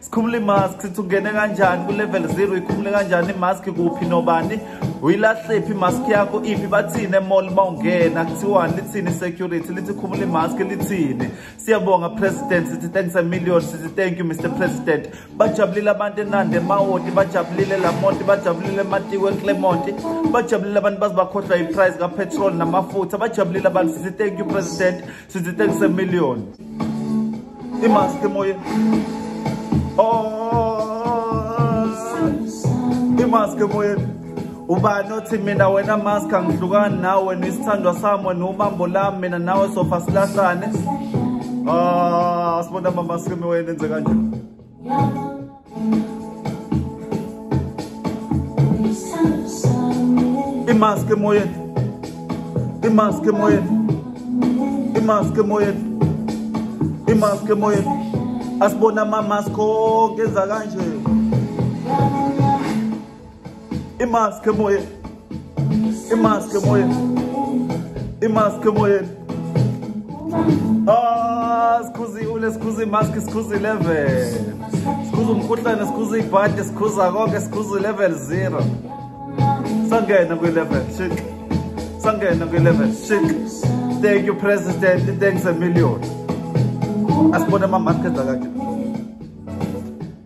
sikhumula imask sithi ungene kanjani ku-level zero ikhumule kanjani imask kuphi nobani uyilahlephi imask yakho iphi bathini emall uma ungena kuthiwani lithini security lithi khumula imask lithini siyabonga president sithi thanks a million sithi thank you mr president bajabulile abantu enande emawoti bajabulile lamonti bajabulile ematiwe eclermont bajabulile abantu baze bakhohlwa yiprice kapetrol namafutha bajabulile abantu sithi thank you president sithi 37 million imask emoyeni oh imask emoyeni ubani othi mina wena mask angihlukani nawe nisithandwa sami wena ubambo lami mina nawe sofa silahlane ah sibona mama sikeme wena enze kanjani imask emoyeni imask emoyeni imask emoyeni imask emoyeni asibona amamask onke enza kanje imask emoyeni imask emoyeni imask emoyeni ah sikhuzi ule sikhuzi imask sikhuzi 11 sikhuzi umkhuhlane sikhuzi ibhadi sikhuza konke sikhuzi 11 0 sangena kwi 11 shik sangena kwi 11 shik thank you president thanks a million asibone ama market akade